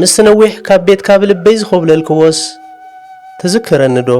ምስቲ ነዊሕ ካብ ቤትካ ብልበይ ዝኾብለልክዎስ ትዝክረኒ ዶ?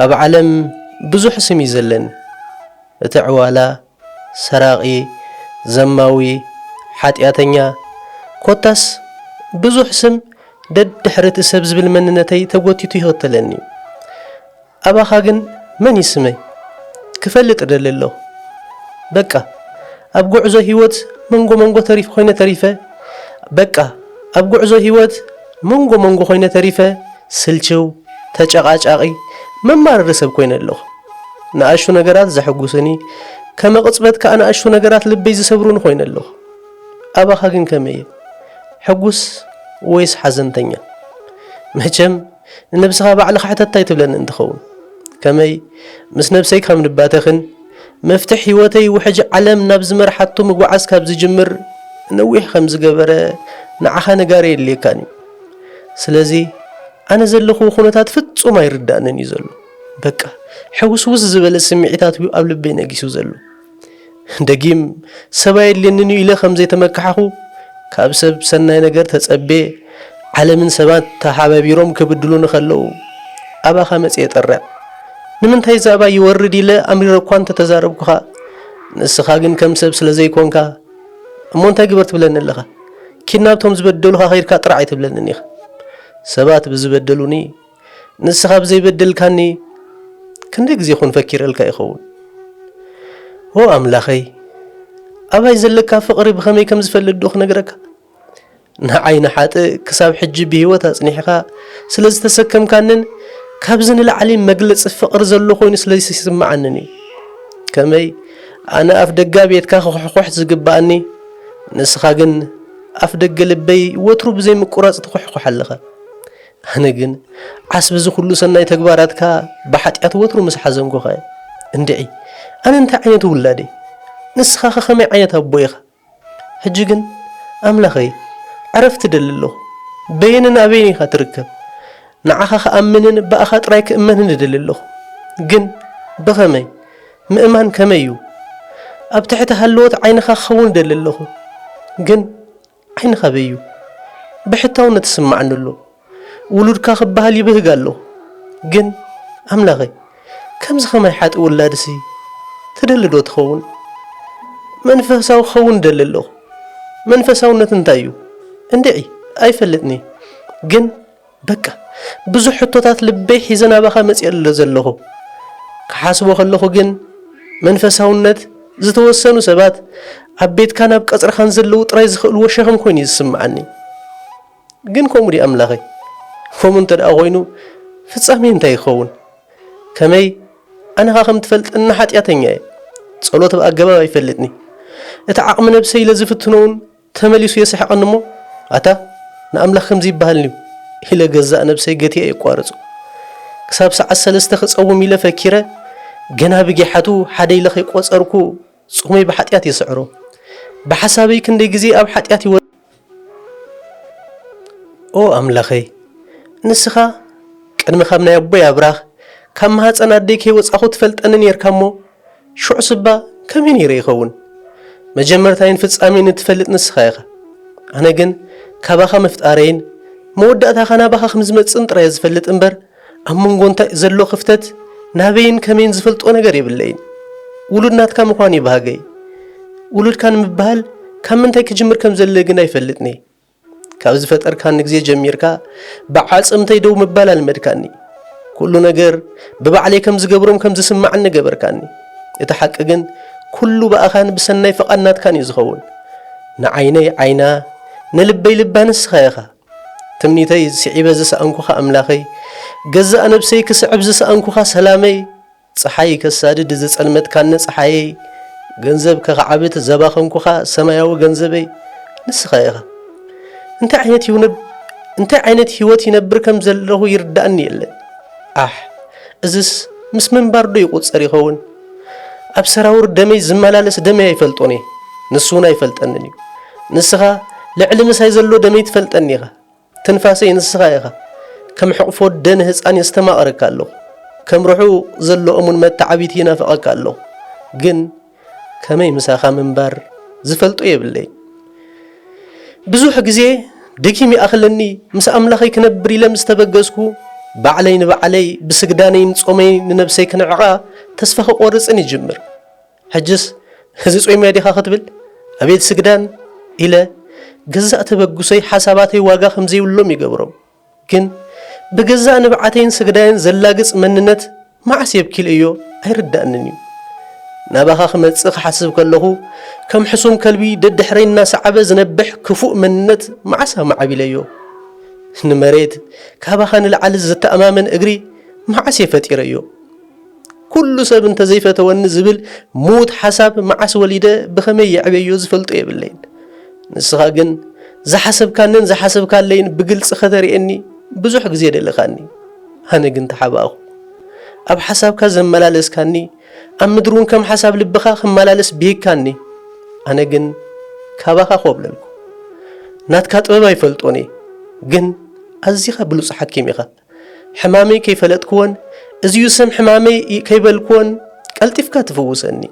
ኣብ ዓለም ብዙሕ ስም እዩ ዘለኒ እቲ ዕዋላ፣ ሰራቒ፣ ዘማዊ፣ ሓጥያተኛ ኮታስ ብዙሕ ስም ደድሕሪ እቲ ሰብ ዝብል መንነተይ ተጎቲቱ ይኽተለኒ እዩ። ኣባኻ ግን መን እዩ ስመይ ክፈልጥ እደሊ ኣለኹ በቃ ኣብ ጉዕዞ ሂወት መንጎ መንጎ ተሪፍ ኮይነ ተሪፈ በቃ ኣብ ጉዕዞ ሂወት መንጎ መንጎ ኮይነ ተሪፈ ስልችው ተጨቓጫቒ መማርሪ ሰብ ኮይነ ኣለኹ ንኣሽቱ ነገራት ዘሕጉስኒ ከመቕጽበት ከኣ ንኣሽቱ ነገራት ልበይ ዝሰብሩኒ ኮይነ ኣለኹ ኣባኻ ግን ከመይ እየ ሕጉስ ወይስ ሓዘንተኛ መቸም ንነብስኻ ባዕልኻ ሕተታ ኣይትብለኒ እንትኸውን ከመይ ምስ ነብሰይ ካብ ንባተኽን መፍትሕ ሂወተይ ውሕጅ ዓለም ናብ ዝመርሓቶ ምጉዓዝ ካብ ዝጅምር ነዊሕ ከም ዝገበረ ንዓኻ ነጋሪ የድልየካን እዩ ስለዚ ኣነ ዘለኹዎ ኩነታት ፍጹም ኣይርዳእንን እዩ ዘሎ በቃ ሕውስውስ ዝበለ ስምዒታት እዩ ኣብ ልበይ ነጊሱ ዘሎ ደጊም ሰብ ኣየድልየንን እዩ ኢለ ከም ዘይተመካሕኹ፣ ካብ ሰብ ሰናይ ነገር ተጸቤ፣ ዓለምን ሰባት ተሓባቢሮም ክብድሉኒ ከለዉ ኣባኻ መጺኤ ጠርዕ። ንምንታይ እዚ ኣባይ ይወርድ ኢለ ኣምሪረ እኳ እንተ ተዛረብኩኻ፣ ንስኻ ግን ከም ሰብ ስለ ዘይኮንካ፣ እሞ እንታይ ግበር ትብለኒ ኣለኻ? ኪድ ናብቶም ዝበደሉኻ ከይድካ ጥራዕ ኣይትብለንን ኢኻ። ሰባት ብዝበደሉኒ፣ ንስኻ ብዘይበደልካኒ ክንደይ ግዜ ኮን ፈኪረልካ ይኸውን ኦ ኣምላኸይ ኣባይ ዘለካ ፍቕሪ ብኸመይ ከም ዝፈልጥ ዶ ክነግረካ ንዓይ ንሓጥእ ክሳብ ሕጂ ብህይወት ኣጽኒሕካ ስለ ዝተሰከምካንን ካብዚ ንላዕሊ መግለጺ ፍቕሪ ዘሎ ኮይኑ ስለ ዝስምዓንን እዩ ከመይ ኣነ ኣፍ ደጋ ቤትካ ክኩሕኩሕ ዝግብኣኒ ንስኻ ግን ኣፍ ደገ ልበይ ወትሩ ብዘይምቁራጽ ትኩሕኩሕ ኣለኻ ኣነ ግን ዓስቢ እዚ ኩሉ ሰናይ ተግባራትካ ብሓጢኣት ወትሩ ምስ ሓዘንኩኸ እንድዒ ኣነ እንታይ ዓይነት ውላድ እየ ንስኻኸ ከመይ ዓይነት ኣቦ ኢኻ ሕጂ ግን ኣምላኸይ ዕረፍቲ እደሊ ኣለኹ በየንን ኣበይን ኢኻ ትርከብ ንዓኻ ክኣምንን ብኣኻ ጥራይ ክእመንን እደሊ ኣለኹ ግን ብኸመይ ምእማን ከመይ እዩ ኣብ ትሕቲ ሃለዎት ዓይንኻ ክኸውን እደሊ ኣለኹ ግን ኣይንኸበዩ ብሕታውነት ይስማዓኒ ኣሎ ውሉድካ ክባሃል ይብህግ ኣሎ ግን ኣምላኸ ከምዚ ከማይ ሓጥእ ውላድሲ ትደሊ ዶ ትኸውን መንፈሳዊ ክኸውን እደሊ ኣለኹ መንፈሳውነት እንታይ እዩ እንድዒ ኣይፈልጥንየ ግን በቃ ብዙሕ ሕቶታት ልበይ ሒዘ ናባኻ መጺኤ'ሎ ዘለኹ። ክሓስቦ ከለኹ ግን መንፈሳውነት ዝተወሰኑ ሰባት ኣብ ቤትካን ኣብ ቀጽርኻን ዘለዉ ጥራይ ዝኽእልዎ ሸኽም ኮይኑ'ዩ ዝስምዓኒ። ግን ከምኡ ድዩ ኣምላኸይ? ከምኡ እንተድኣ ኮይኑ ፍጻሜይ እንታይ ይኸውን? ከመይ ኣነኻ ከም ትፈልጠኒ ሓጢኣተኛ'የ። ጸሎት ብኣገባብ ኣይፈልጥን'የ። እቲ ዓቕሚ ነብሰይ ኢለ ዝፍትኖ'ውን ተመሊሱ የስሕቐኒ እሞ፣ ኣታ ንኣምላኽ ከምዚ ይበሃል እንድዩ ኢለ ገዛእ ነብሰይ ገቲየ የቋርጾ። ክሳብ ሰዓት ሰለስተ ክጸውም ኢለ ፈኪረ፣ ገና ብጊሓቱ ሓደ ኢለ ከይቆጸርኩ ጾመይ ብሓጢኣት የስዕሮ። ብሓሳበይ ክንደይ ግዜ ኣብ ሓጢኣት ይወድቕ እየ። ኦ ኣምላኸይ፣ ንስኻ ቅድሚ ካብ ናይ ኣቦይ ኣብራኽ፣ ካብ ማህጸን ኣደይ ከይወጻኹ ትፈልጠኒ ኔርካ እሞ፣ ሽዑ ስባ ከመይ ነይረ ይኸውን? መጀመርታይን ፍጻሜን እትፈልጥ ንስኻ ኢኻ። ኣነ ግን ካባኻ ምፍጣረይን መወዳእታኻ ናባኻ ከም ዝመጽእን ጥራይ እየ ዝፈልጥ እምበር፣ ኣብ መንጎ እንታይ ዘሎ ክፍተት ናበይን ከመይን ዝፈልጦ ነገር የብለይን። ውሉድ ናትካ ምዃን እዩ ባህገይ። ውሉድካ ንምብሃል ካብ ምንታይ ክጅምር ከም ዘድሊ ግን ኣይፈልጥን'የ። ካብ ዝፈጠርካኒ ግዜ ጀሚርካ ብዓጽምተይ ደው ምባል ኣልመድካኒ። ኩሉ ነገር ብባዕለይ ከም ዝገብሮም ከም ዝስማዕኒ ገበርካኒ። እቲ ሓቂ ግን ኩሉ ብኣኻን ብሰናይ ፍቓድ ናትካን እዩ ዝኸውን። ንዓይነይ ዓይና ንልበይ ልባ ንስኻ ኢኻ። ትምኒተይ ስዒበ ዝሰኣንኩኻ ኣምላኸይ፣ ገዛእ ነብሰይ ክስዕብ ዝሰኣንኩኻ ሰላመይ፣ ጸሓይ ከሳድድ ዘጸልመትካኒ ጸሓየይ ገንዘብ ከኻዕብት ዘባኸንኩኻ ሰማያዊ ገንዘበይ ንስኻ ኢኻ እንታይ ዓይነት ይውነብ እንታይ ዓይነት ህይወት ይነብር ከም ዘለኹ ይርዳእኒ የለን ኣሕ እዝስ ምስ ምንባር ዶ ይቑጸር ይኸውን ኣብ ሰራውር ደመይ ዝመላለስ ደመይ ኣይፈልጦን እየ ንሱ እውን ኣይፈልጠንን እዩ ንስኻ ልዕሊ ምሳይ ዘሎ ደመይ ትፈልጠኒ ኢኻ ትንፋሰይ ንስኻ ኢኻ፣ ከም ሕቕፎ ኣደ ንህጻን የስተማቕረካ ኣለኹ፣ ከም ርሑቕ ዘሎ እሙን መተዓብይቲ ይናፍቐካ ኣለኹ፣ ግን ከመይ ምሳኻ ምንባር ዝፈልጦ የብለይን። ብዙሕ ግዜ ደጊም ይኣኽለኒ፣ ምስ ኣምላኸይ ክነብር ኢለ ምስ ተበገስኩ፣ ባዕለይ ንባዕለይ ብስግዳነይን ጾመይን ንነብሰይ ክንዕቓ ተስፋ ክቖርጽን ይጅምር። ሕጅስ እዚ ጾይምያ ዲኻ ክትብል ኣቤት ስግዳን ኢለ ገዛእ ተበግሶይ ሓሳባተይ ዋጋ ከምዘይብሎም ይገብሮም ግን ብገዛእ ንብዓተይን ስግዳይን ዘላግጽ መንነት መዓስ የብኪልእዮ ኣይርዳእንን እዩ ናባኻ ክመጽእ ክሓስብ ከለኹ ከም ሕሱም ከልቢ ደድሕረይ እናሰዓበ ዝነብሕ ክፉእ መንነት መዓስ ኣማዓቢለዮ ንመሬት ካባኻ ንላዕሊ ዝተኣማመን እግሪ መዓስ የፈጢረዮ ኩሉ ሰብ እንተዘይፈተወኒ ዝብል ምዉት ሓሳብ መዓስ ወሊደ ብኸመይ የዕበዮ ዝፈልጦ የብለይን። ንስኻ ግን ዝሓሰብካንን ዝሓሰብካለይን ብግልጺ ከተርእየኒ ብዙሕ ግዜ ደለኻኒ። ኣነ ግን ተሓባእኹ። ኣብ ሓሳብካ ዘመላለስካኒ፣ ኣብ ምድሪ እውን ከም ሓሳብ ልብኻ ክመላለስ ብሂግካኒ። ኣነ ግን ካባኻ ኮብለልኩ። ናትካ ጥበብ ኣይፈልጦን እየ፣ ግን ኣዚኻ ብሉጽ ሓኪም ኢኻ። ሕማመይ ከይፈለጥክዎን እዚዩ ስም ሕማመይ ከይበልክዎን ቀልጢፍካ ትፍውሰኒ።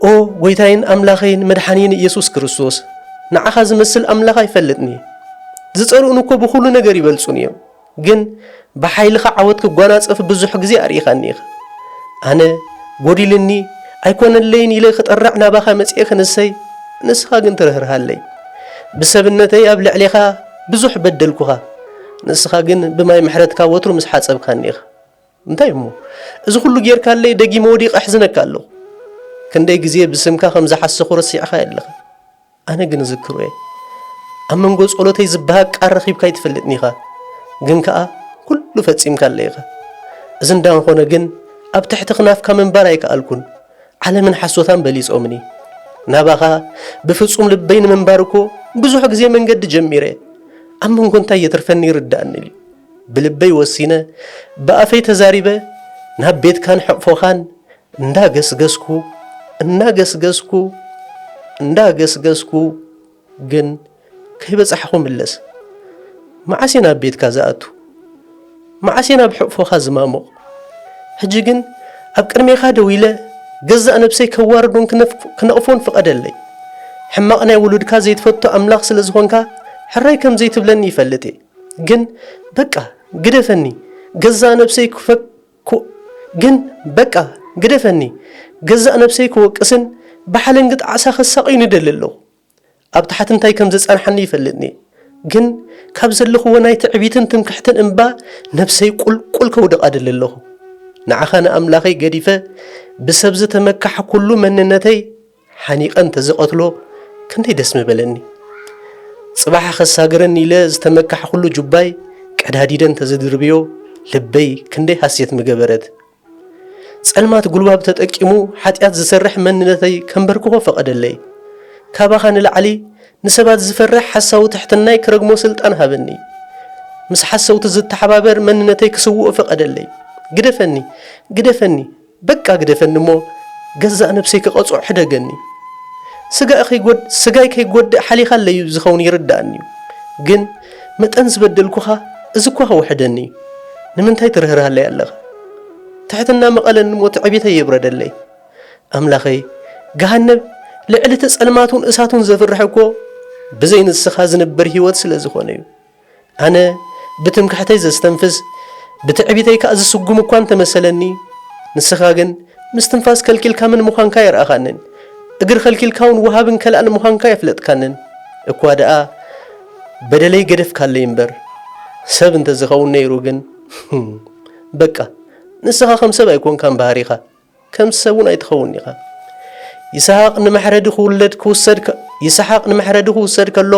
ኦ ጎይታይን ኣምላኸይን መድሓንይን ኢየሱስ ክርስቶስ ንዓኻ ዝመስል ኣምላኽ ኣይፈልጥን እየ። ዝጸልኡኒ እኮ ብኹሉ ነገር ይበልጹኒ እዮም ግን ብሓይልኻ ዓወት ክጓናጸፍ ብዙሕ ግዜ ኣርኢኻኒ ኢኻ። ኣነ ጎዲልኒ ኣይኮነለይን ኢለ ክጠርዕ ናባኻ መጽኤ ክንሰይ ንስኻ ግን ትርህርሃለይ ብሰብነተይ ኣብ ልዕሌኻ ብዙሕ በደልኩኻ፣ ንስኻ ግን ብማይ ምሕረትካ ወትሩ ምስ ሓጸብካኒ ኢኻ። እንታይ እሞ፣ እዚ ኹሉ ጌርካለይ ደጊመ ወዲቐ ኣሕዝነካ ኣለኹ። ክንደይ ግዜ ብስምካ ከም ዝሓሰኹ ረሲዕኻዮ ኣለኻ። ኣነ ግን እዝክሮ እየ። ኣብ መንጎ ጸሎተይ ዝበሃግ ቃል ረኺብካ ኣይትፈልጥን ኢኻ፣ ግን ከኣ ኩሉ ፈጺምካለይ ኢኻ። እዚ እንዳንኾነ ግን ኣብ ትሕቲ ክናፍካ ምንባር ኣይከኣልኩን። ዓለምን ሓሶታን በሊጾምኒ። ናባኻ ብፍጹም ልበይ ንምንባር እኮ ብዙሕ ግዜ መንገዲ ጀሚረ፣ ኣብ መንጎ እንታይ የትርፈኒ ይርዳእኒ ኢሉ ብልበይ ወሲነ ብኣፈይ ተዛሪበ ናብ ቤትካን ሕቕፎኻን እንዳገስገስኩ እንዳገስገስኩ እንዳገስገስኩ ግን ከይበጻሕኹ ምለስ። መዓስ እየ ናብ ቤትካ ዝኣቱ? መዓስ እየ ናብ ሕቕፎኻ ዝማሙቕ? ሕጂ ግን ኣብ ቅድሜኻ ደው ኢለ ገዛእ ነብሰይ ከዋርዶን ክነቕፎን ፍቐደለይ። ሕማቕ ናይ ውሉድካ ዘይትፈቱ ኣምላኽ ስለ ዝኾንካ ሕራይ ከም ዘይትብለኒ ይፈልጥ እየ። ግን በቃ ግደፈኒ ገዛእ ነብሰይ ኩእ ግን በቃ ግደፈኒ ገዛእ ነብሰይ ክወቅስን ብሓለንጊ ጣዕሳ ከሳቅዩን ይደሊ ኣለኩ ኣብ ታሕቲ እንታይ ከም ዘጻንሓኒ ይፈልጥኒ ግን ካብ ዘለክዎ ናይ ትዕቢትን ትምክሕትን እምባ ነብሰይ ቁልቁል ከውድቃ እደሊ ኣለኩ ንዓካ ንኣምላከይ ገዲፈ ብሰብ ዝተመካሕኩሉ መንነተይ ሓኒቐ እንተዝቐትሎ ክንደይ ደስ ምበለኒ። ጽባሕ ከሳግረኒ ኢለ ዝተመካሕኩሉ ጁባይ ቀዳዲደ እንተዝድርብዮ ልበይ ክንደይ ሃሴት ምገበረት። ጸልማት ጉልባብ ተጠቂሙ ሓጢኣት ዝሰርሕ መንነተይ ከንበርክኾ ፈቐደለይ። ካባኻ ንላዕሊ ንሰባት ዝፈርሕ ሓሳዊ ትሕትናይ ክረግሞ ስልጣን ሃበኒ። ምስ ሓሰውቲ ዝተሓባበር መንነተይ ክስውኦ ፈቐደለይ። ግደፈኒ! ግደፈኒ! በቃ ግደፈኒ እሞ ገዛእ ነብሰይ ክቀጽዖ ሕደገኒ ስጋይ ከይጎድእ ሓሊኻለይ'ዩ ዝኸውን ይርድኣኒ'ዩ ግን መጠን ዝበደልኩኻ እዚ'ኳ ከውሕደኒ እዩ ንምንታይ ትርህርሃለይ ኣለኻ ትሕትና ምቐለኒ እሞ ትዕቢተይ የብረደለይ ኣምላኸይ ገሃነብ ልዕሊ እቲ ጸልማቱን እሳቱን ዘፍርሕ'ኮ ብዘይ ንስኻ ዝንበር ሂወት ስለዝኾነ'ዩ ኣነ ብትምክሕተይ ዘስተንፍስ ብትዕቢተይ ከኣ ዝስጉም እኳ እንተ መሰለኒ፣ ንስኻ ግን ምስትንፋስ ከልኪልካ መን ምዃንካ ኣየርኣኻንን፣ እግሪ ከልኪልካውን ወሃብን ከላእን ምዃንካ ኣየፍለጥካንን። እኳ ደኣ በደለይ ገደፍካለይ እምበር፣ ሰብ እንተ ዝኸውን ነይሩ ግን፣ በቃ ንስኻ ከም ሰብ ኣይኮንካን ባህሪኻ። ከም ሰብ እውን ኣይትኸውንን ኢኻ። ይስሃቅ ንመሕረዲ ክውለድ ክውሰድ ይስሓቅ ንመሕረዲ ክውሰድ ከሎ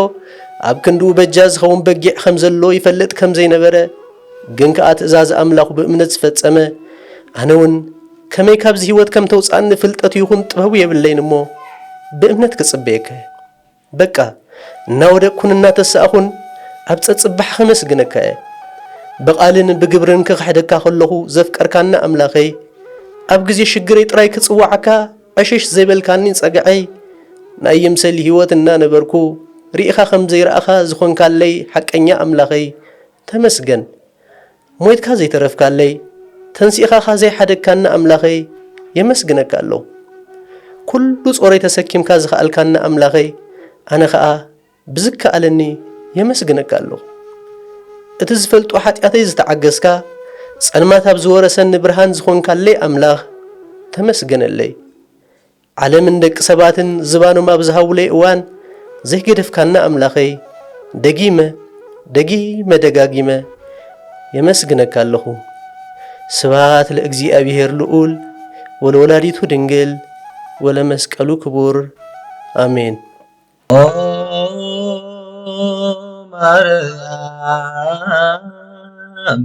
ኣብ ክንድኡ በጃ ዝኸውን በጊዕ ከም ዘሎ ይፈልጥ ከም ዘይነበረ ግን ከኣ ትእዛዝ ኣምላኹ ብእምነት ዝፈጸመ ኣነ እውን ከመይ ካብዚ ህይወት ከም ተውጽኣኒ ፍልጠቱ ይኹን ጥበቡ የብለይን እሞ ብእምነት ክጽበየካ በቃ እናወደቅኩን እናተሳእኹን ኣብ ጸጽባሕ ኸመስግነካ እየ። ብቓልን ብግብርን ክኽሕደካ ከለኹ ዘፍቀርካኒ ኣምላኸይ፣ ኣብ ግዜ ሽግረይ ጥራይ ክጽውዓካ ዕሽሽ ዘይበልካኒ ጸግዐይ፣ ናይ ይምሰል ህይወት እናነበርኩ ርኢኻ ከም ዘይረኣኻ ዝኾንካለይ ሓቀኛ ኣምላኸይ፣ ተመስገን። ሞይትካ ዘይተረፍካለይ ተንሲእኻ ካኣ ዘይሓደግካኒ ኣምላኸይ የመስግነካ ኣሎው ኩሉ ጾረይ ተሰኪምካ ዝኸኣልካኒ ኣምላኸይ ኣነ ካኣ ብዝከኣለኒ የመስግነካ ኣሎው እቲ ዝፈልጦ ሓጢኣተይ ዝተዓገስካ ጸልማት ኣብ ዝወረሰኒ ብርሃን ዝኾንካለይ ኣምላኽ ተመስገነለይ ዓለምን ደቂ ሰባትን ዝባኖም ኣብ ዝሃቡለይ እዋን ዘይገደፍካና ኣምላኸይ ደጊመ ደጊመ ደጋጊመ የመስግነካ ኣለኹ። ስብሃት ለእግዚኣብሄር ልኡል ወለወላዲቱ ድንግል ወለመስቀሉ ክቡር ኣሜን። ኦ ማርያም